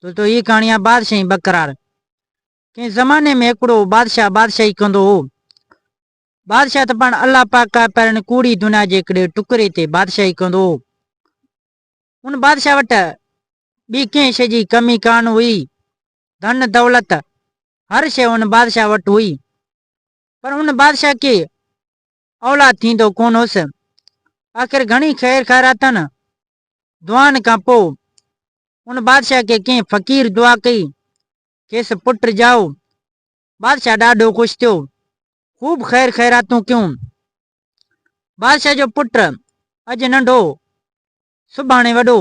ڇو جو هيء ڪهاڻي آهي بادشاهي بقرار. ڪنهن زماني ۾ هڪڙو بادشاهه بادشاهي ڪندو هو. بادشاهه ته پاڻ الله پاڪ آهي پر هن ڪوڙي دنيا جي هڪڙي ٽڪري تي بادشاهي ڪندو هو. ان بادشاهه وٽ ٻي ڪنهن شيء جي ڪمي ڪانه هئي. ڌن دولت هر شيء ان بادشاهه وٽ هئي. پر ان بادشاهه کي اولاد ٿيندو ڪونه هوس. آخر گهڻي خير خيراتن دعائن کان پوء ان بادشاهه کي ڪنهن فقير دعا ڪئي، کيس پٽ ڄائو. بادشاهه ڏاڍو خوش ٿيو. خوب خير خيراتون ڪيون. بادشاهه جو پٽ اڄ ننڍو، سڀاڻي وڏو،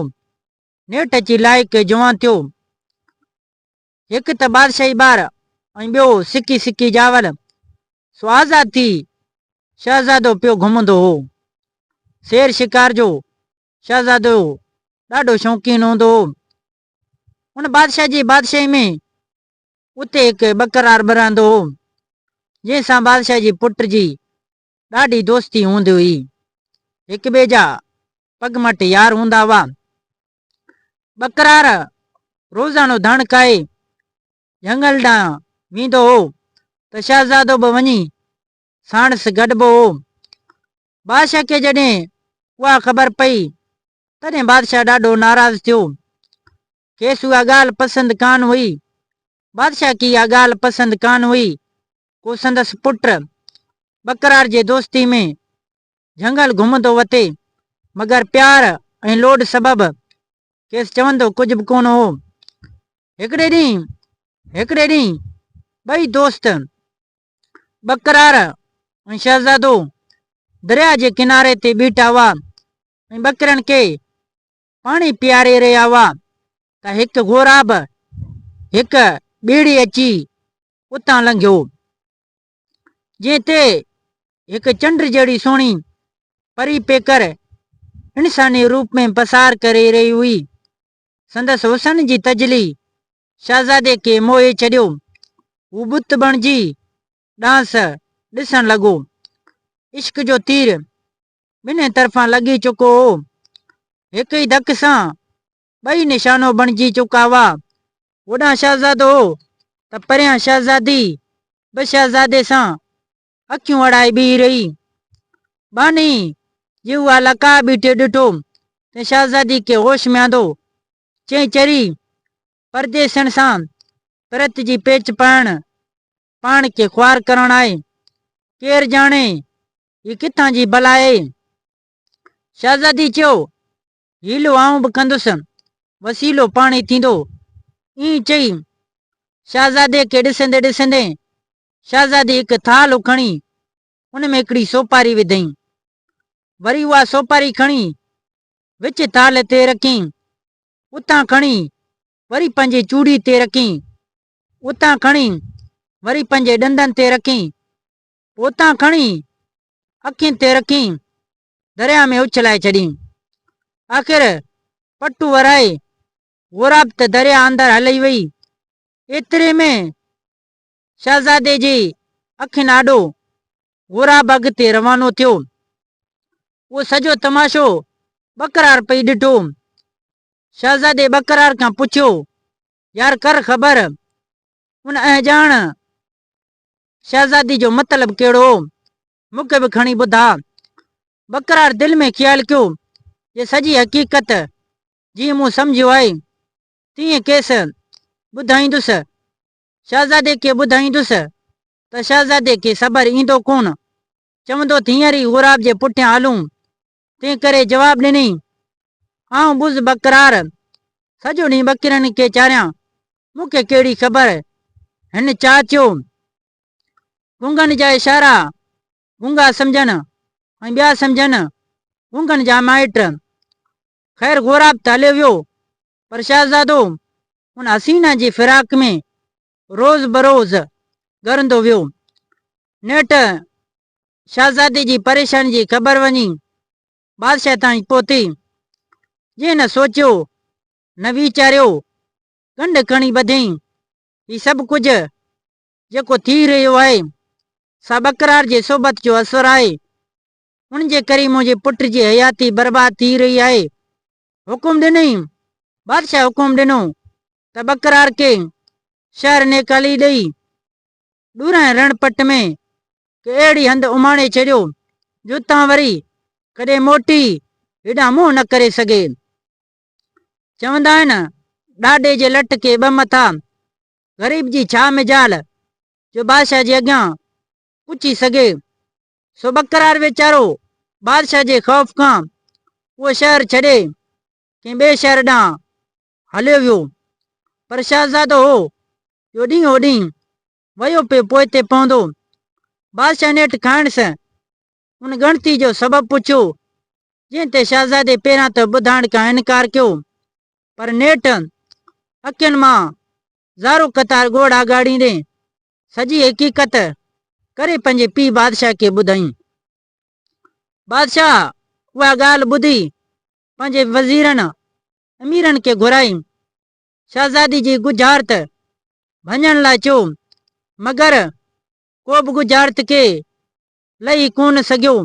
نيٺ اچي لائق جوان ٿيو. هڪ ته بادشاهي ٻار ۽ ٻيو سڪي سڪي ڄاول. سو آزاد ٿي شهزادو پيو گهمندو هو. شير شڪار جو شهزادو ڏاڍو شوقين هوندو هو. ان بادشاهه جي بادشاهي ۾ اتي هڪ ٻڪرار به رهندو هو، جنهن سان بادشاهه جي پٽ جي ڏاڍي دوستي هوندي هئي. هڪ ٻئي جا پڳ مٽ يار هوندا هئا. ٻڪرار روزانو ڌڻ کائي جهنگل ڏانهن ويندو هو ته شهزادو به وڃي ساڻس گڏبو هو. بادشاهه کي جڏهن اها خبر پئي تڏهن بادشاهه ڏاڍو ناراض ٿيو. کيس اها ڳالهه پسند ڪانه هئي. بادشاهه کي اها ڳالهه پسند ڪانه هئي. ڪو سندس پٽ ٻڪرار جي دوستي ۾ جهنگل گهمندو وتي، مگر پيار ۽ لوڏ سبب کيس چوندو ڪجهه به ڪونه هو. هڪڙي ڏينهن هڪڙي ڏينهن ٻئي دوست ٻڪرار ۽ شهزادو درياء جي ڪناري تي بيٺا هئا ۽ ٻڪرين کي پاڻي پياري رهيا هئا ته هڪ غوراب هڪ ٻيڙي اچي اتان لنگهيو، جنهن تي هڪ چنڊ جهڙي سهڻي پري پيڪر انساني روپ ۾ پسار ڪري رهي هئي. سندس حسن جي تجلي شهزادي کي موهي ڇڏيو. هو بت بڻجي ڏانهس ڏسڻ لڳو. عشق جو تير ٻنهي طرفان لڳي چڪو هو. هڪ ئي ڌڪ سان ٻئي نشانو بڻجي چڪا هئا. هوڏانهن شهزادو هو ته پريان شهزادي به شهزادي سان اکيون اڙائي بيهي رهي. ٻانهي جي اها لقاء بيٺي ڏٺو ته شهزادي کي هوش ۾ آندو. چئي چري پرديسين سان پرت جي پيچ پائڻ پاڻ کي خوار ڪرڻ آهي. ڪير ڄاڻي هي ڪٿان جي بلا آهي. شهزادي چيو، حيلو آئون به ڪندس، وسيلو پاڻ ئي ٿيندو. ائين چئي، شهزادي کي ڏسندي ڏسندي، شهزادي هڪ ٿالهه کڻي، ان ۾ هڪڙي سوپاري وڌئين. وري اها سوپاري کڻي، وچ ٿالهه تي رکيائين. اتان کڻي، وري پنهنجي چوڙي تي رکين، اتان کڻي وري پنهنجي ڏندن تي رکين، پوء اتان کڻي اکين تي رکين درياهه ۾ اڇلائي ڇڏين. آخر پٽو ورائي غوراب ته درياهه اندر هلي وئي، ايتري ۾ شهزادي جي اکين آڏو غوراب اڳتي روانو ٿيو. اهو سڄو تماشو ٻڪرار پئي ڏٺو، شهزادي ٻڪرار کان پڇيو، يار ڪر خبر، ان اهڄاڻ شهزادي جو مطلب ڪهڙو هو؟ مون کي به کڻي ٻڌاء. ٻڪرار دل ۾ خيال ڪيو، جي سڄي حقيقت جيئن مون سمجهيو آهي، تيئن کيس ٻڌائيندس. شهزادي کي ٻڌائيندس ته شهزادي کي صبر ايندو ڪونه. چوندو ته هينئر ئي غوراب جي پٺيان هلون، تنهن ڪري جواب ڏني، آئون بز بقرار سڄو ڏينهن ٻڪرين کي چاريان، مون کي ڪهڙي خبر؟ هن چاء ٿيو. گونگن جا اشارا گونگا سمجهن ۽ ٻيا سمجهن گونگن جا مائٽ. خير غوراب ته هليو ويو، پر شهزادو ان حسينه جي فراق ۾ روز بروز ڳرندو ويو. نيٺ شهزادي جي پريشاني جي خبر وڃي بادشاهه تائين پهتي، جنهن نه سوچيو نه ويچاريو، ڳنڍ کڻي ٻڌيئين، هي سڀ ڪجهه جيڪو ٿي رهيو آهي، سا ٻڪرار جي صحبت جو اثر آهي. ان جي ڪري منهنجي پٽ جي حياتي برباد ٿي رهي آهي. حڪم ڏنئين، بادشاهه حڪم ڏنو ته ٻڪرار ڪي شهر نيڪالي ڏئي ڏورانهين رڻ پٽ ۾ ڪي اهڙي هنڌ اماڻي ڇڏيو جو تان وري ڪڏهن موٽي هيڏانهن منهن نه ڪري سگهي. چوندا آهن ڏاڏي جي لٽ ڪي ٻه مٿا، غريب جي ڇا مجال جو بادشاهه جي اڳيان پڇي سگهي. سو ٻڪرار ويچارو بادشاهه جي خوف کان اهو شهر ڇڏي ڪنهن ٻئي شهر ڏانهن هليو ويو، پر شهزادو هو جو ڏينهن هوڏينهن ويو پيو پوئتي پوندو. بادشاهه نيٺ کانئس ان ڳڻتي جو سبب پڇيو، جنهن تي شهزادي پهريان ته ٻڌائڻ کان انڪار ڪيو، پر نيٺ اکين مان زارو قطار ڳوڙها ڳاڙيندي سڄي حقيقت ڪري پنهنجي پيء بادشاهه کي ٻڌائين. بادشاهه اها ڳالهه ٻڌي پنهنجي وزيرن اميرن کي گهرائين. شهزادي جي ڳجهارت ڀڃڻ لاء چيو، مگر ڪو به ڳجهارت کي لهي ڪونه سگهيو.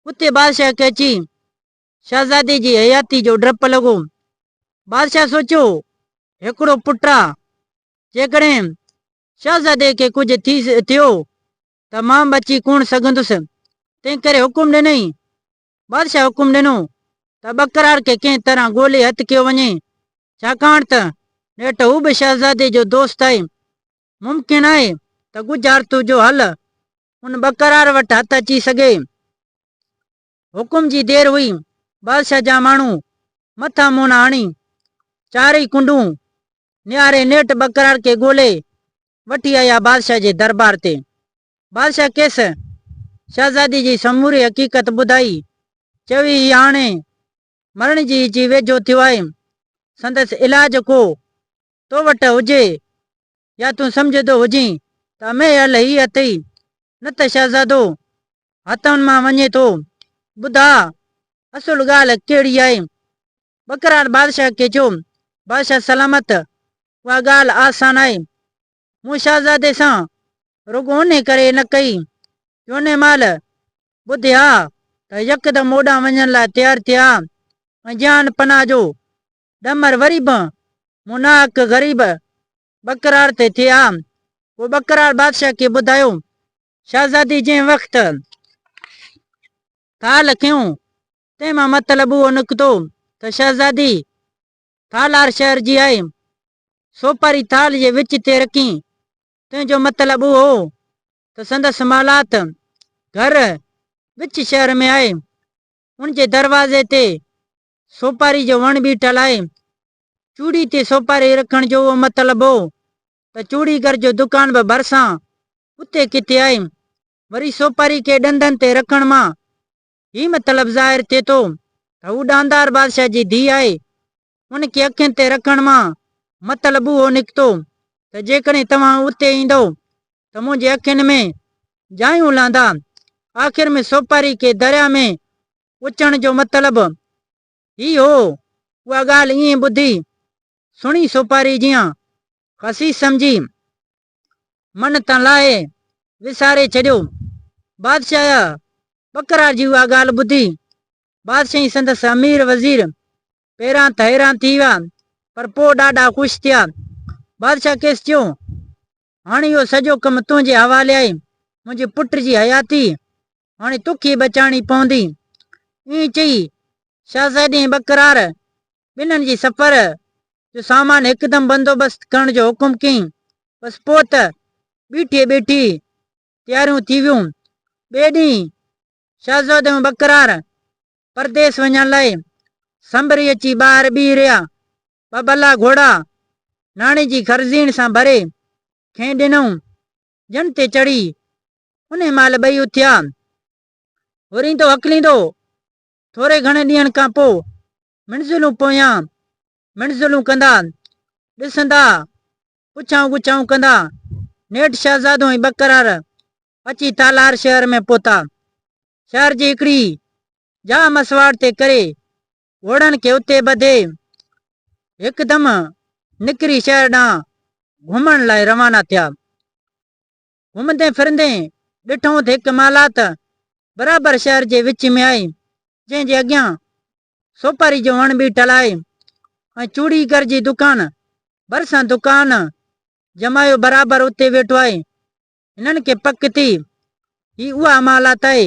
اتي بادشاهه کي اچي شهزادي جي حياتي جو ڊپ لڳو. بادشاهه سوچيو، هڪڙو پٽ آ، جيڪڏهن شهزادي کي ڪجهه ٿي ٿيو ته مان بچي ڪونه سگهندس. تنهنڪري حڪم ڏنائين بادشاهه حڪم ڏنو ته ٻڪرار کي ڪنهن طرح ڳولي هٿ ڪيو وڃي، ڇاڪاڻ ته نيٺ هو به شهزادي جو دوست آهي. ممڪن آهي ته ڳجهارتو جو حل ان ٻڪرار وٽ هٿ اچي سگهي. حڪم جي دير هئي، بادشاهه جا ماڻهو مٿا مونها هڻي چارئي ڪنڊون نهاري نيٺ ٻڪرار کي ڳولي وٺي آيا بادشاهه جي درٻار تي. بادشاهه کيس شهزادي جي سموري حقيقت ٻڌائي، چوي هي هاڻي مرڻ جي جي ويجهو ٿيو آهي، سندس علاج ڪو تو وٽ هجي يا تون سمجهندو هجين ته امهي حل هي اٿئي، نه ته شهزادو هٿن مان وڃي ٿو. ٻڌاء اصل ڳالهه ڪهڙي آهي؟ ٻڪرار بادشاهه کي چيو، بادشاهه سلامت اها ڳالهه آسان آهي، مون شهزادي سان رڳو انهي ڪري نه ڪئي جو انهي مهل ٻڌي ها ته يڪدم اوڏانهن وڃڻ لاء تيار ٿئي ها ۽ جيان پناهه جو ڏمر وري به مون ناحق غريب ٻڪراڙ تي ٿئي ها. پوء ٻڪراڙ بادشاهه کي ٻڌايو. شهزادي جنهن وقت ڪال کنيو تنهن مان مطلب اهو نڪتو ته شهزادي ٿالار شهر جي آيم، سوپاري ٿال جي وچ تي رکين، تنهن جو مطلب اهو هو ته سندس محلات، گهر، وچ شهر ۾ آهي. ان جي دروازي تي سوپاري جو وڻ بيٺل آهي. چوڙي تي سوپاري رکڻ جو اهو مطلب هو ته چوڙيگر جو دڪان به ڀرسان اتي ڪٿي آهي. وري سوپاري کي ڏندن تي رکڻ مان هي مطلب ظاهر ٿئي ٿو ته هو ڏاندار بادشاهه جي ڌيء آهي. ان کي اکين تي رکڻ مان مطلب اهو نڪتو ته جيڪڏهن توهان اتي ايندؤ ته منهنجي اکين ۾ جايون لهندا. آخر ۾ سوپاري کي درياء ۾ اچڻ جو مطلب هي هو. اها ڳالهه ائين ٻڌي سهڻي سوپاري جيان خسيس سمجهي من تان لاهي وساري ڇڏيو. بادشاهه يا بڪرار جي اها ڳالهه ٻڌي، بادشاهه ۽ سندس امير وزير پهريان ته حيران ٿي ويا، پر پوء ڏاڍا خوش ٿيا. بادشاهه کيس چيو، هاڻ اهو سڄو ڪم تنهنجي حوالي آهي، منهنجي پٽ جي حياتي هاڻي توکي بچائڻي پوندي. ائين چئي، شهزادي ۽ ٻڪرار ٻنهن جي سفر جو سامان هڪدم بندوبست ڪرڻ جو حڪم ڪيائين. بس پوء ته بيٺي ٻيٺي تياريون ٿي ويون. ٻئي ڏينهن شهزادو ۽ ٻڪرار پرديس وڃڻ لاء سنبري اچي ٻاهر بيهي رهيا. ٻه ڀلا گهوڙا ناڻي جي خرزيڻ سان ڀري کين ڏنائون. ڄڻ تي چڙهي، انهي مهل ٻئي اٿيا. هورين تو هڪليندو، ٿوري گهڻي ڏينهن کان پوء منزلون پويان منزلون ڪندا، ڏسندا، پڇائون ڳڇائون ڪندا، نيٺ شهزادو ۽ ٻڪرار اچي تالار شهر ۾ پهتا. شهر جي هڪڙي جاء مسواڙ تي ڪري گهوڙن کي اتي ٻڌي هڪدم نڪري شهر ڏانهن گهمڻ لاء روانا ٿيا. گهمندي ڦرندي ڏٺائون ته هڪ محلات برابر شهر جي وچ ۾ آهي، جنهن جي اڳيان سوپاري جو وڻ بيٺل آهي ۽ چوڙيگر جي دڪان ڀرسان دڪان جمايو برابر اتي ويٺو آهي. هنن کي پڪ ٿي، هي اها امالات آهي،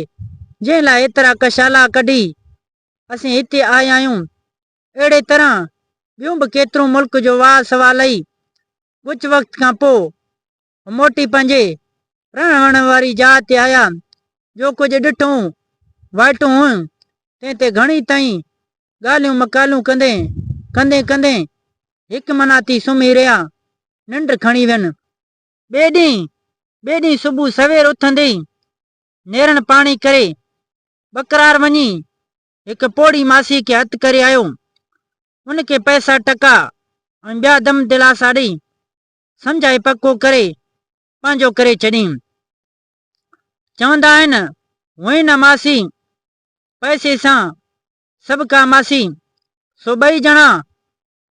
جنهن لاء ايترا ڪشالا ڪڍي اسين هتي آيا آهيون. اهڙي طرح ٻيون به ڪيترون ملڪ جو واء سوا لهي، ڳچ وقت کان پوء هو موٽي پنهنجي رهڻ وهڻ واري جاء تي آيا. جو ڪجهه ڏٺئون، وائٽون هيون، تنهن تي گهڻي تائين ڳالهيون مقالهون ڪندي، ڪندي ڪندي هڪ منا ٿي سمهي رهيا، ننڊ کڻي وين. ٻئي ڏينهن ٻئي ڏينهن صبح سوير اٿندي ئي نيرڻ پاڻي ڪري ٻڪرار وڃي هڪ پوڙهي ماسي کي هٿ ڪري آيو. ان کي پئسا ٽڪا ۽ ٻيا دم دلاسا ڏئي سمجهائي پڪو ڪري پنهنجو ڪري ڇڏيم. چوندا آهن هئين نه ماسي پئسي سان سڀ ڪا ماسي سو ٻئي ڄڻا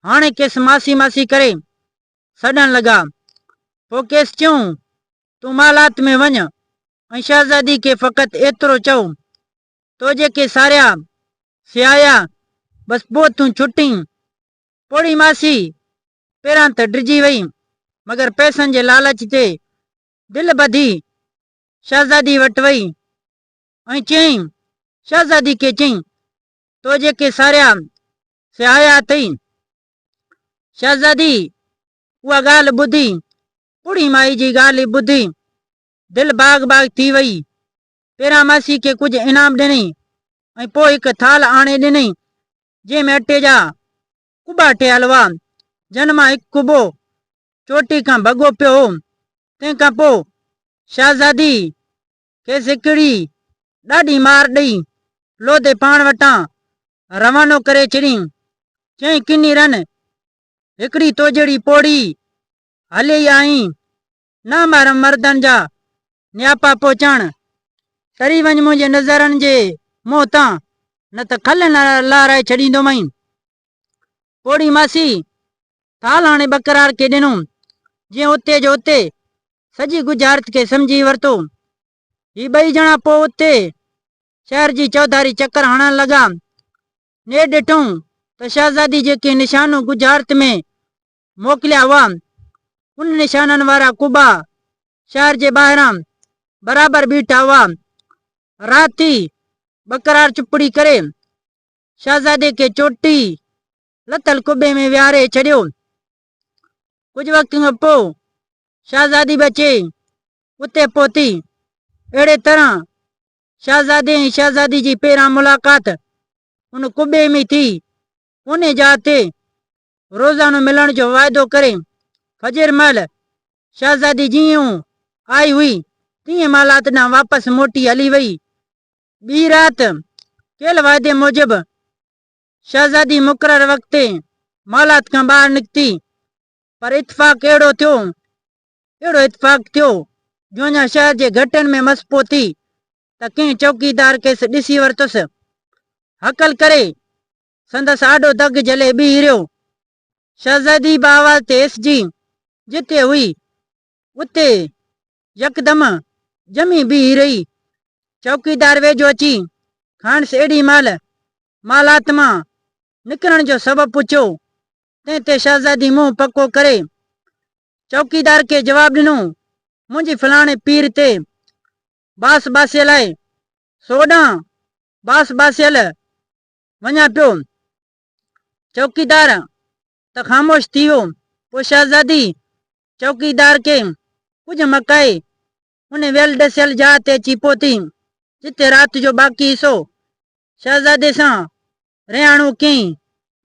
هاڻي کيس ماسي ماسي ڪري سڏڻ لڳا. پوء کيس چيائون، تون محلات ۾ وڃ ۽ شهزادي کي فقط ايترو چئو، تو جيڪي ساريا سيايا، بس پوء تون ڇٽين. پوڙهي ماسي پهريان ته ڊڄي وئي، مگر پئسن جي لالچ تي دل ٻڌي شهزادي وٽ وئي ۽ چيائين، شهزادي کي چئين، تو جيڪي ساريا سهايا اٿئي. شهزادي اها ڳالهه ٻڌي، پوڙهي مائي جي ڳالهه ٻڌي دل باغ باغ ٿي وئي. پهريان ماسي کي ڪجهه انعام ڏنئي ۽ پوء هڪ ٿالهه آڻي ڏنئي، جنهن ۾ اٽي جا ڪٻا ٺهيل هئا، جن مان هڪ ڪٻو چوٽي کان ڀڳو پيو هو. تنهن کان پوء شهزادي کيس هڪڙي ڏاڍي مار ڏئي لوڌي پاڻ وٽان روانو ڪري ڇڏيائين. چيائين ڪني رن هڪڙي توجهڙي پوڙهي هلي ئي آئين. نه محرم مردن جا نياپا پهچڻ. ٽري وڃ منهنجي نظرن جي منهن تان نه ته کل لارائي ڇڏيندومئين. پوڙهي ماسي ٿال هاڻي ٻڪرار کي ڏنو، جنهن اتي جو اتي سڄي ڳجهارت کي سمجهي ورتو. هي ٻئي ڄڻا پوء اتي شهر جي چوڌاري چڪر هڻڻ لڳا. نيٺ ڏٺائون ته شهزادي جيڪي نشانو ڳجهارت ۾ موڪليا هئا، ان نشانن وارا قبا شهر جي ٻاهران برابر بيٺا هئا. رات ٿي، ٻڪرار چپڙي ڪري شهزادي کي چوٽي لٿل قبي ۾ ويهاري ڇڏيو. ڪجهه وقت کان پوء شهزادي به اچي اتي پهتي. اهڙي طرح شهزادي ۽ شهزادي جي پهريان ملاقات ان قبي ۾ ئي ٿي. پوني جاء تي روزانو ملڻ جو واعدو ڪري فجر مهل شهزادي جيئن آئي هئي تيئن مالات ڏانهن واپس موٽي هلي وئي. ٻي رات، ڪيل واعدي موجب، شهزادي مقرر وقت تي محلات کان ٻاهر نڪتي، پر اتفاق اهڙو ٿيو، اهڙو اتفاق ٿيو، جو اڃا شهر جي گهٽين ۾ مس پهتي، ته ڪنهن چوڪيدار کيس ڏسي ورتس. هڪل ڪري، سندس آڏو دڳ جهلي بيهي رهيو. شهزادي به آواز تي ايس جي جتي هئي، اتي يڪدم ڄمي بيهي رهي. چوڪيدار ويجهو اچي کانئس اهڙي مهل مالات مان نڪرڻ جو سبب پڇيو، تنهن تي شهزادي منهن پڪو ڪري چوڪيدار کي جواب ڏنو، منهنجي فلاڻي پير تي باس باسيل آهي، سو اوڏانهن باس باسيل وڃان پيو. چوڪيدار ته خاموش ٿي ويو. پوء شهزادي چوڪيدار کي ڪجهه مڪائي ان ويل ڏسيل جاء تي اچي پهتي، جتي رات جو باقي حصو شهزادي سان رهاڻو ڪيائين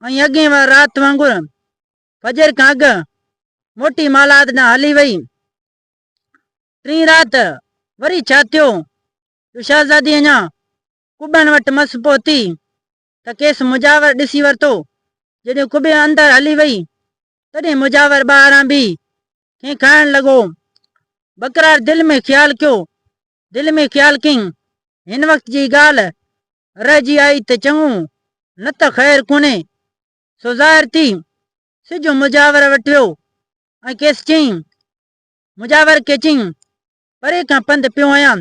۽ اڳين وار رات وانگر فجر کان اڳ موٽي مالاحت ڏانهن هلي وئي. ٽين رات وري ڇا ٿيو جو شهزادي اڃا قبن وٽ مس پهتي ته کيس مجاور ڏسي ورتو. جڏهن قبي اندر هلي وئي، تڏهن مجاور ٻاهران بيهي کين کائڻ لڳو. بقرار دل ۾ خيال ڪيو. دل ۾ خيال ڪيائين، هن وقت جي ڳالهه رهجي آئي ته چڱو، نه ته خير ڪونهي. سو ظاهر ٿي، سج مجاور وٽ ويو ۽ کيس چيائين. مجاور کي چيائين، پري کان پنڌ پيو هنيان،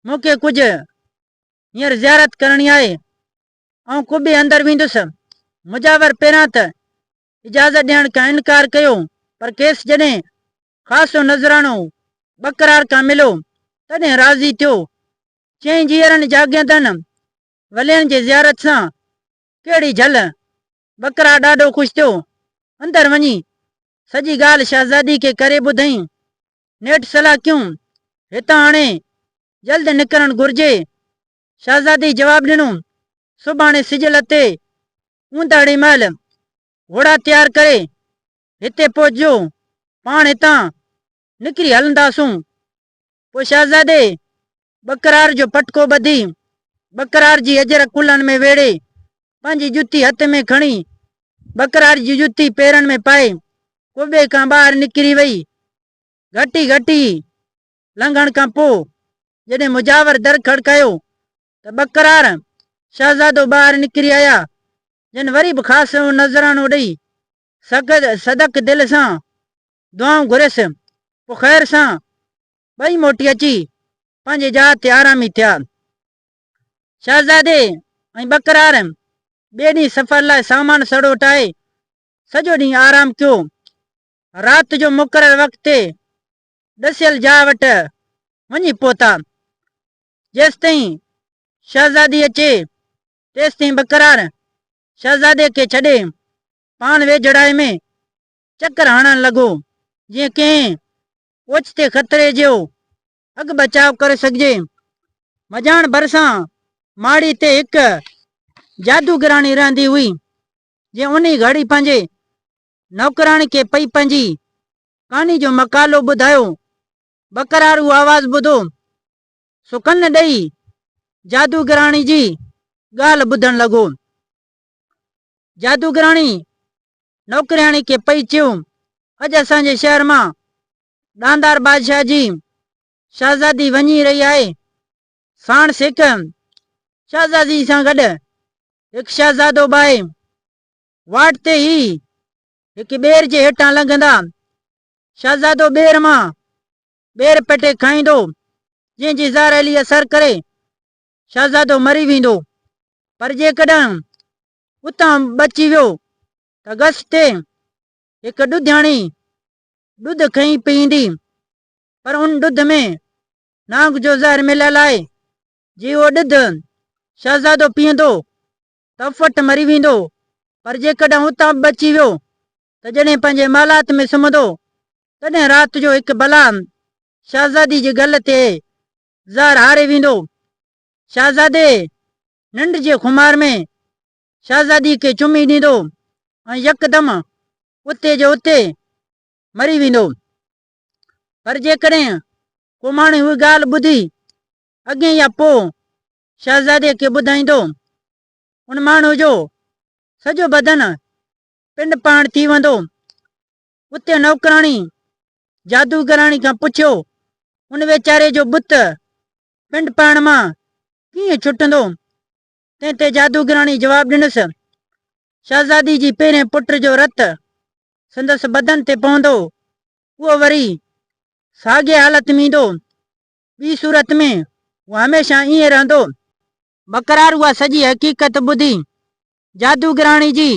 مون کي ڪجهه هينئر زيارت ڪرڻي آهي. آئون قبي اندر ويندس. مجاور پهريان ته اجازت ڏيڻ کان انڪار ڪيو، پر کيس جڏهن خاصو نذرانو ٻڪرار کان مليو، تڏهن راضي ٿيو. چيائين جيئرن جاڳيندڙن ولين جي زيارت سان ڪهڙي جهل! ٻڪرار ڏاڍو خوش ٿيو. اندر وڃي سڄي ڳالهه شهزادي کي ڪري ٻڌائين. نيٺ صلاح ڪيون، هتان هڻي جلد نڪرڻ گهرجي. شهزادي جواب ڏنو، سڀاڻي سج لٿي، اونداهڙي مهل، گهوڙا تيار ڪري، هتي پهچجو. پاڻ هتان نڪري هلنداسون. پوء شهزادي ٻڪرار جو پٽڪو ٻڌي، ٻڪرار جي اجر ڪلهن ۾ ويڙهي، پنهنجي جتي هٿ ۾ کڻي، ٻڪرار جي جتي پيرن ۾ پائي، قبي کان ٻاهر نڪري وئي. گهٽي گهٽي لنگهڻ کان پوء جڏهن مجاور در کڙڪايو ته ٻڪرار شهزادو ٻاهر نڪري آيا، جن وري به خاص سنئون نذرانو ڏئي سخت صدق دل سان دعائون گهريس، پوء خير سان ٻئي موٽي اچي پنهنجي جاء تي آرامي ٿيا. شهزادي ۽ ٻڪرار ٻئي ڏينهن سفر لاء سامان سڙو ٽاهي سڄو ڏينهن آرام ڪيو. رات جو مقرر وقت تي ڏسيل جاء وٽ وڃي پهتا. جيستائين شهزادي اچي، تيستائين بقرار شهزادي کي ڇڏي پاڻ ويجهڙائي ۾ چڪر هڻڻ لڳو، جيئن ڪنهن اوچتي خطري جو اڳ بچاء ڪري سگهجي. مجاڻ ڀرسان ماڙي تي هڪ جادوگراڻي رهندي هئي، جنهن انهي گهڙي پنهنجي نوڪراڻي کي پئي پنهنجي ڪاني جو مقالو ٻڌايو. ٻڪرار اهو آواز ٻڌو سو ڪن ڏئي جادوگراڻي جي ڳالهه ٻڌڻ لڳو. جادوگراڻي نوڪرياڻي کي پئي چيو، اڄ اسان جي شهر مان ڏاندار بادشاهه جي شهزادي وڃي رهي آهي. ساڻس هڪ شهزادي سان گڏ هڪ شهزادو به آهي. واٽ تي ئي هڪ ٻير جي هيٺان لنگهندا شهزادو ٻير مان ٻير پٽي کائيندو جنهن جي زهريلي اثر ڪري شهزادو مري ويندو پر جيڪڏهن اتان بچي ويو ته گس تي هڪ ڏڌياڻي ڏڌ کئي پيئيندي پر ان ڏڌ ۾ نانگ جو زهر مليل آهي جي اهو ڏڌ شهزادو پيئندو تفٽ مري ويندو، پر جيڪڏهن اتان به بچي ويو ته جڏهن پنهنجي محلات ۾ سمهندو، تڏهن رات جو هڪ بلا شهزادي جي گل تي زهر هاري ويندو. شهزادي ننڊ جي خمار ۾ شهزادي کي چمي ڏيندو ۽ يڪدم اتي جو اتي مري ويندو. پر جيڪڏهن ڪو ماڻهو اهي ڳالهه ٻڌي اڳي يا پوء شهزادي کي ٻڌائيندو ان ماڻهو جو سڄو بدن پنڊ پاڻ ٿي ويندو. اتي نوڪراڻي جادوگراڻي کان پڇيو ان ويچاري جو بت پنڊ پاڻ مان ڪيئن ڇٽندو؟ تنهن تي جادوگراڻي جواب ڏنس، شهزادي جي پهرين پٽ جو رت سندس بدن تي پوندو اهو وري ساڳئي حالت ۾ ايندو ٻي صورت ۾ هو هميشه ائين رهندو. بقرار اها سڄي حقيقت ٻڌي، جادوگراڻي جي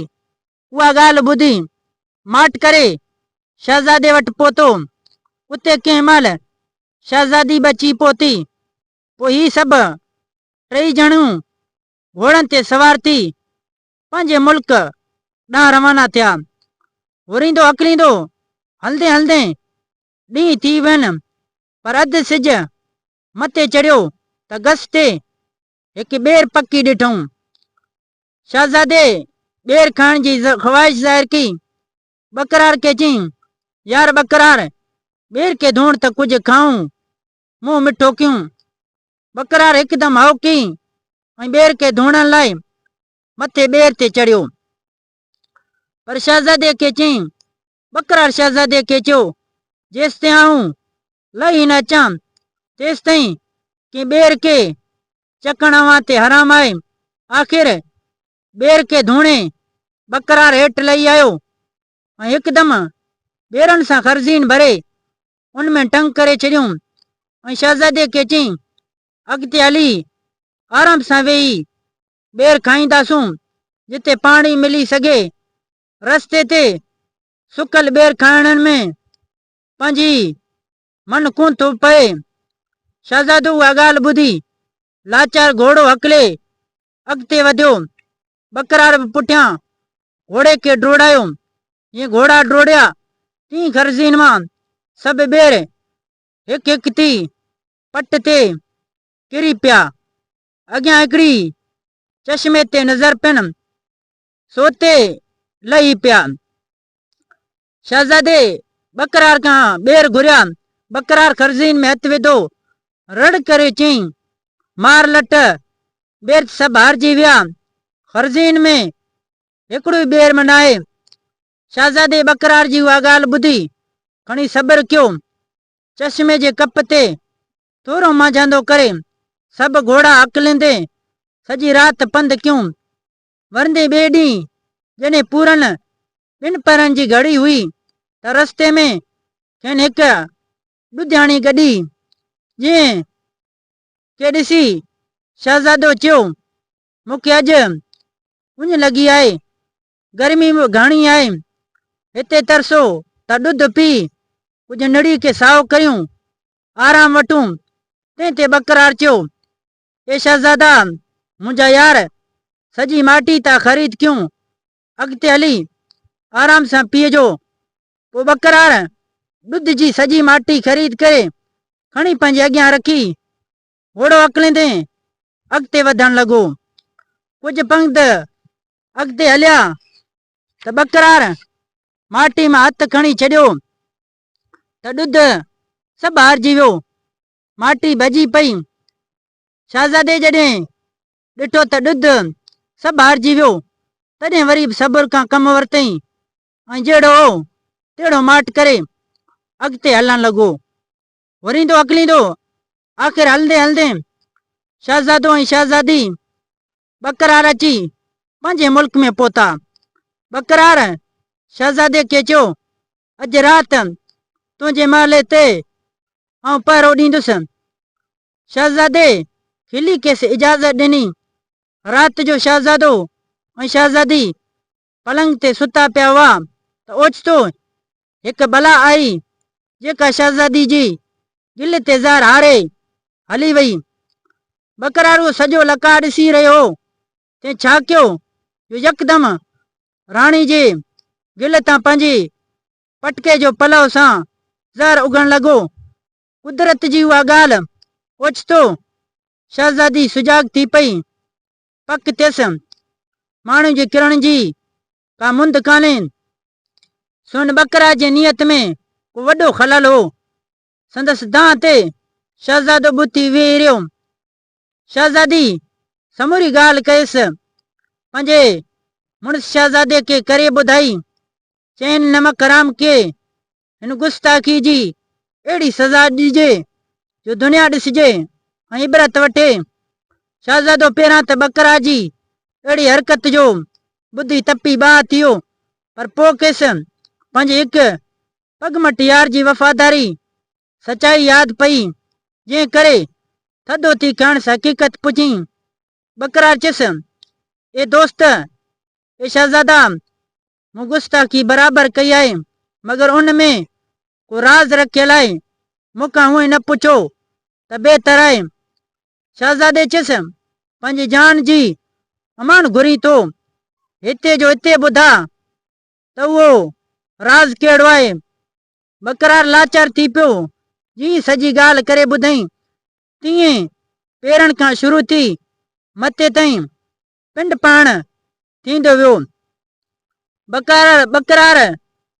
اها ڳالهه ٻڌي، ماٺ ڪري شهزادي وٽ پهتو. اتي ڪنهن مهل شهزادي به اچي پهتي. پوء هي سڀ ٽيئي ڄڻيون گهوڙن تي سوار ٿي پنهنجي ملڪ ڏانهن روانا ٿيا. هوريندو هڪليندو هلندي هلندي ڏينهن ٿي وين. پر اڌ سج مٿي چڙهيو ته گس تي هڪ ٻير پکي ڏٺائون. شهزادي ٻير کائڻ جي خواهش ظاهر ڪئي. ٻڪرار کي چيائين، يار ٻڪرار، ٻير کي ڌوڻ ته ڪجهه کائون، منهن مٺو ڪيون. ٻڪرار هڪدم هائو ڪئي ۽ ٻير کي ڌوڻڻ لاء مٿي ٻير تي چڙهيو. پر شهزادي کي چيائين، ٻڪرار شهزادي کي چيو، جيستائين آئون لهي نه اچان، تيستائين ڪنهن ٻير کي چڪڻ اوهان تي حرام آهي. آخر ٻير کي ڌوڻي ٻڪرار هيٺ لهي آيو ۽ هڪدم ٻيرن سان خرزين ڀري ان ۾ ٽنگ ڪري ڇڏيون ۽ شهزادي کي چيائين، اڳتي هلي آرام سان ويهي ٻير کائينداسون، جتي پاڻي ملي سگهي رستي تي سڪل ٻير کائڻ ۾ پنهنجي من ڪونه ٿو پئي. شهزادو اها ڳالهه ٻڌي لاچار گهوڙو هڪلي اڳتي وڌيو. ٻڪرار به پٺيان گهوڙي کي ڊوڙايو. جيئن گهوڙا ڊوڙيا تيئن گرزين مان سڀ ٻير هڪ هڪ ٿي پٽ تي ڪري پيا. اڳيان هڪڙي چشمي تي نظر پين سوتي لهي پيا. شهزادي ٻڪرار کان ٻير گهريا. ٻڪرار خرزين ۾ هٿ وڌو. رڙ ڪري چيائين، مار لٽ، ٻير ته سڀ هارجي ويا. خرزين ۾ هڪڙو ئي ٻير به ناهي. شهزادي ٻڪرار جي اها ڳالهه ٻڌي کڻي صبر ڪيو. چشمي جي ڪپ تي ٿورو مانجهاندو ڪري سڀ گهوڙا هڪليندي سڄي رات پنڌ ڪيون. ورندي ٻئي ڏينهن جڏهن پورن ٻن پهرن جي گهڙي هئي ته رستي ۾ کين هڪ ڏڌياڻي گڏي، جنهن کي ڏسي شهزادو چيو، مون کي اڄ اڃ لڳي آهي، گرمي به گهڻي آهي، هتي ترسو ته ڏڌ پي ڪجهه نڙي کي سائو ڪيون، آرام وٺون، تنهن تي ٻڪرار چيو، اي شهزادا! منهنجا يار، سڄي ماٽي تان خريد ڪيون، اڳتي هلي آرام سان پيئجو. پوء ٻڪراڻ ڏڌ جي سڄي ماٽي خريد ڪري، کڻي پنهنجي اڳيان رکي، گهوڙو هڪليندي اڳتي وڌڻ لڳو. ڪجهه پنگت اڳتي هليا ته ٻڪراڻ ماٽي مان هٿ کڻي ڇڏيو ته ڏڌ سڀ هارجي ويو. ماٽي ڀڄي پئي. شهزادي جڏهن ڏٺو ته ڏڌ سڀ هارجي ويو، تڏهن وري به صبر کان ڪم ورتئين ۽ جهڙو هو تهڙو ماٽ ڪري اڳتي هلڻ لڳو. وريندو اڪليندو آخر هلندي هلندي شهزادو ۽ شهزادي ٻڪرار اچي پنهنجي ملڪ ۾ پهتا. ٻڪرار شهزادي کي چيو اڄ رات تنهنجي محلي تي آئون پهرو ڏيندس. شهزادي کلي کيس اجازت ڏني. رات جو شهزادو ۽ شهزادي پلنگ تي ستا پيا هئا ته اوچتو هڪ بلا آئي، جيڪا شهزادي جي دل تي زهر هاري هلي وئي. ٻڪرارو سڄو لڪاء ڏسي رهيو هو، تنهن ڇا ڪيو جو يڪدم راڻي جي گل تان پنهنجي پٽڪي جو پلئو سان زهر اگهڻ لڳو. قدرت جي اها ڳالهه اوچتو شهزادي سجاڳ ٿي پئي. پڪ ٿيس، ماڻهوء جي ڪرڻ جي ڪا مند ڪانهي. سون ٻڪراج جي نيت ۾ ڪو وڏو خلل هو. سندس دانهن تي شهزادو ٻوٿي ويهي رهيو. شهزادي سموري ڳالهه ڪيس. پنهنجي مڙس شهزادي کي ڪري ٻڌائي. چين نمڪ حرام کي هن گستاخي جي اهڙي سزا ڏجي جو دنيا ڏسجي ۽ عبرت وٺي. شهزادو پهريان ته ٻڪرا جي اهڙي حرڪت جو ٻڌي تپي باهه ٿيو پر پوء کيس پنهنجي هڪ پڳمٺ يار جي وفاداري سچائي ياد پئي، جنهن ڪري ٿڌو ٿي کڻس حقيقت پڄين ٻڪرار چيس، اي دوست! اي شهزادا! مون گستاخي برابر ڪئي آهي، مگر ان ۾ ڪو راز رکيل آهي، مون کان هونئن نه پڇو ته بهتر آهي. شهزادي چيس، پنهنجي جان جي امان گهرين ٿو، هتي جو هتي ٻڌاء ته اهو راز ڪهڙو آهي، ٻڪرار لاچار ٿي پيو. جيئن سڄي ڳالهه ڪري ٻڌائين، تيئن پيرن کان شروع ٿي مٿي تائين پنڊ پاڻ ٿيندو ويو. ٻڪرار ٻڪرار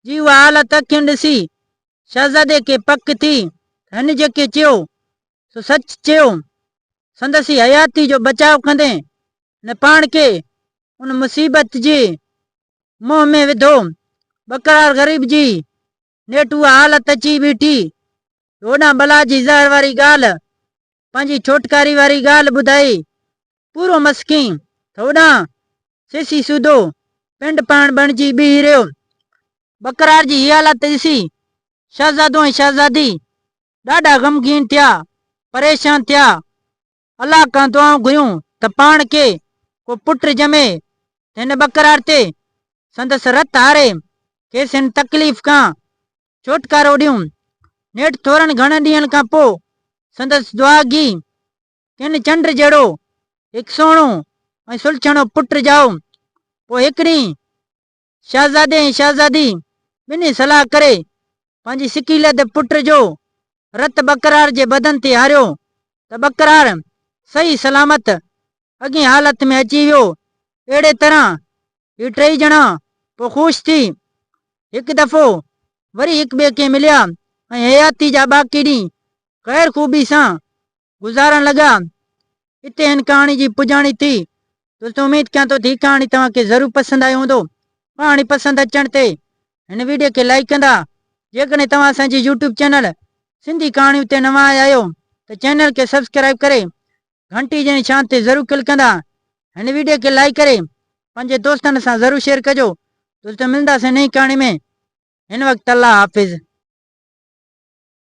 جي اها حالت اکين ڏسي شهزادي کي پڪ ٿي ته هن جيڪي چيو، سو سچ چيو. سندس ئي حياتي جو بچاء ڪندي هن پاڻ کي ان مصيبت جي منهن ۾ وڌو. ٻڪرار غريب جي نيٺ اها حالت اچي بيٺي جو هوڏانهن بلا جي زهر واري ڳالهه، پنهنجي ڇوٽڪاري واري ڳالهه ٻڌائي پورو مسڪين ته هوڏانهن سيسي سوڌو پنڊ پاڻ بڻجي بيهي رهيو. ٻڪرار جي هي حالت ڏسي شهزادو ۽ شهزادي ڏاڍا غمگين ٿيا، پريشان ٿيا. الله کان دعائون گهريون ته پاڻ کي ڪو پٽ ڄمي ته هن ٻڪرار تي سندس رت هاري کيس هن تڪليف کان ڇوٽڪارو ڏيون. نيٺ ٿورن گهڻن ڏينهن کان پوء سندس دعاگي کين چنڊ جهڙو هڪ سهڻو ۽ سلڇڻو پٽ ڄائو. پوء هڪ ڏينهن شهزادي ۽ شهزادي ٻنهي صلاح ڪري پنهنجي سڪيلڌ پٽ جو رت ٻڪرار جي بدن تي هاريو ته ٻڪرار صحيح سلامت اڳئين حالت ۾ اچي ويو. اهڙي طرح هي ٽيئي ڄڻا پوء خوش ٿي هڪ دفعو وري هڪٻئي کي مليا ۽ حياتي جا باقي ڏينهن خير خوبي سان گذارڻ لڳا. اتي هن ڪهاڻي جي پڄاڻي ٿي. دوستو اميد ڪيان ٿو ته هي ڪهاڻي توهان کي ضرور پسند آيو هوندو. ڪهاڻي پسند اچڻ تي هن ويڊيو کي لائيڪ ڪندا. جيڪڏهن توهان اسان جي يوٽيوب چينل سنڌي ڪهاڻيون تي نوان آيا آهيو ته چينل کي سبسڪرائيب ڪري گهنٽي جي نشان تي ضرور ڪلڪ ڪندا. هن ويڊيو کي لائيڪ ڪري پنهنجي دوستن سان ضرور شيئر ڪجو. دوستو ملنداسين نئين ڪهاڻي ۾ هن وقت الله حافظ.